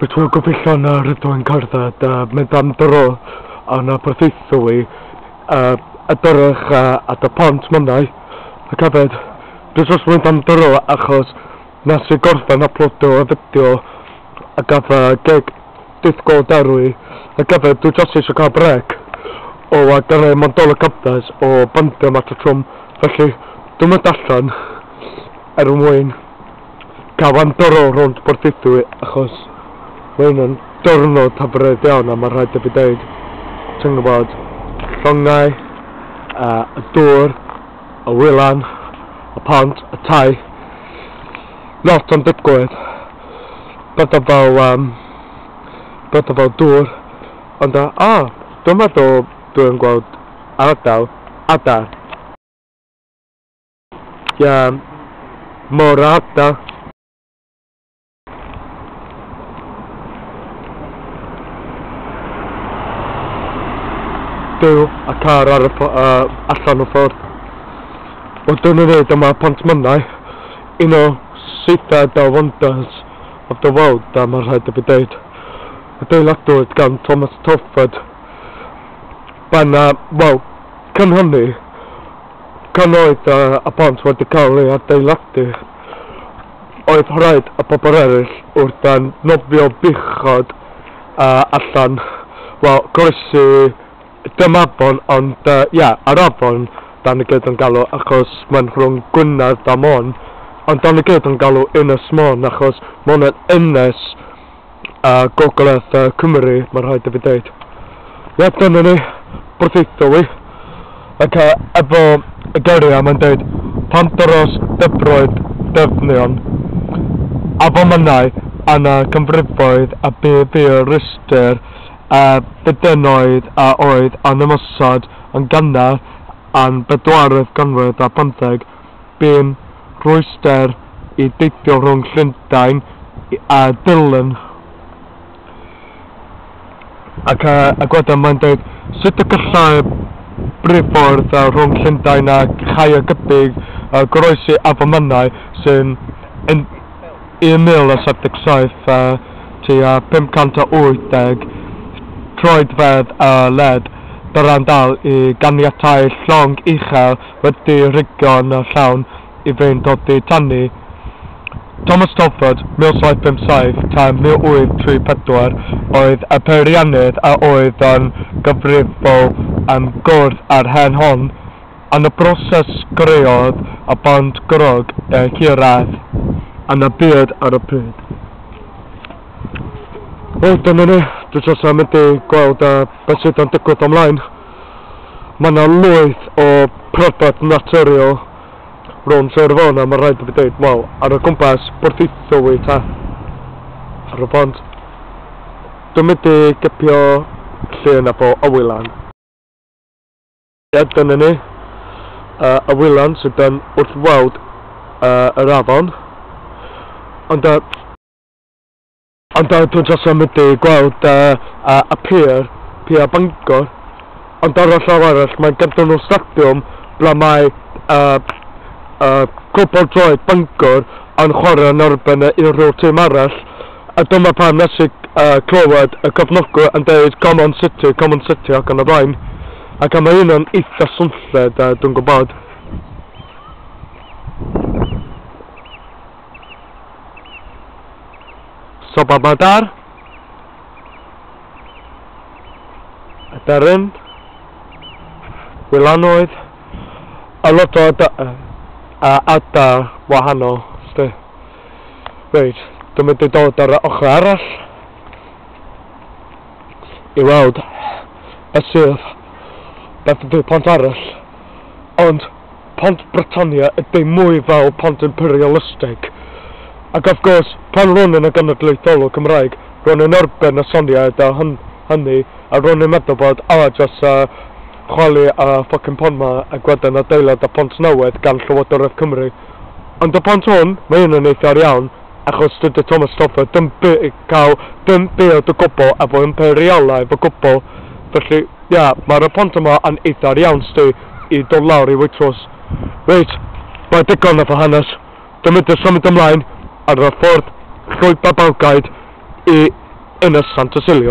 Mae tro gobeithiol na rydw i'n cerdded a mynd am dro yn y porthaethwy i edrych ar y pont mynnau ac hefyd dwi jyst mynd am dro achos nes i gorffen yploadio y fideo a gyda gig dydd Gwl Dewi ac hefyd dwi jyst eisiau cael brêc o gyrraedd Mantolo Cyffes o bandiau mas y trwm felly dwi'n mynd allan er mwyn Cafo'n doro rownd Porthaethwy achos mae hwn yn diwrnod hyfryd iawn a mae'n rhaid i fi dweud, ti'n gwybod, llongau, uh, y dŵr, y wylan, y pont, y tai, lot o'n digwydd, bydda fel, um, bydda fel dŵr, ond a, uh, oh, dwi'n meddwl dwi'n gweld ardal, adar. Jam. Morata. byw a car ar y uh, allan o ffordd. O dyn yn neud yma pont mynnau, un o seithfed o wonders of the world a mae rhaid i fi dweud. Y deiladwyd gan Thomas Telford. Byna, wel, cynhyrnu Gan oedd y pont wedi cael ei adeiladu, oedd rhaid y pobl eraill wrth a nofio beichiog allan, wel, croesi dim afon, ond, ie, yr afon, dan ni gyd yn galw, achos mae'n rhwng Gwynedd a Môn, ond dan ni gyd yn galw Ynys Môn, achos Môn yn ynys, a Gogledd Cymru, mae'n rhaid i fi dweud. Ie, dyna ni, Porthaethwy. Ac efo y geiriau mae'n dweud, pan dros dybroedd dyfnion, a fomynau yna canfrifoedd a bu fi'r rhestr a fedenoedd a oedd yn ymosod yn gynnar yn bedwaredd ganrif ar bymtheg, bu'n rhwystr i deithio rhwng Llundain a Durlân. Ac a gweda mae'n dweud, sut y gallai briffordd rhwng Llundain a Chaergybi goroesi Afon Menai sy'n 1,077 a tua 580 troedfedd o led, Durlân dal i ganiatáu llong uchel wedi rhugio'n llawn i fynd oddi tani. Thomas Telford, 1757 tan 1834, oedd y peiriannydd a oedd yn gyfrifol am gwrdd â'r hen hon. Yn y broses creodd y band grug eu hirradd yn y byd ar y pryd. Wel, dyna ni. Dwi jyst am mynd i gweld beth sydd yn digwydd o'm mlaen. Mae 'na lwyth o pryfed naturiol rownd Sir Fôn a ma' raid i fi deud, wel, ar y gwmpas Porthaethwy ta, ar y pont, dwi'n mynd i gipio llun efo y wylan. Ie, dyna ni. Y wylan sydd yn wrth weld yr afon. Ond yy. Ond ar dro dros amlydu gweld y a pier, pier Bangor, ond ar y llaw arall mae'n ganddo y stadiwm ble mae y y cwpl droed Bangor yn chwarae yn erbyn y unrhyw tîm arall a dyma pam nes i y clywed y cefnogwyr yn deud come on City, come on City ac yn y blaen ac a mae hynna'n eitha swnllyd a dwi'n gwybod. Sobamadar, y darren, Wylanoedd, a lot o a ada wahanol. Sti. Reit, dwi'n mynd i dod ar y ochr arall i weld y sydd beth ydy'r pont arall. Ond Pont Britannia ydi mwy fel pont imperialisteg. Ac of gwrs, pan ro'n i'n y genedlaetholwr Cymraeg, ro'n i'n erbyn y syniad a hynny a ro'n i'n meddwl bod a jyst a chwalu a ffycin pont ma ag wedyn adeilad a phont newydd gan Llywodraeth Cymru. Ond y pont hwn, mae hyn yn eitha iawn achos dydy Thomas Stafford ddim by cael dim byd o gwbl efo imperialaidd o gwbl. Felly, ie, mae'r y pont yma yn eitha iawn sti. i dod lawr i Waitrose. Reit, mae digon o fy hanes. Dw i'n symud ymlaen ar y ffordd llwybr Balgaid i Ynys Santosilio.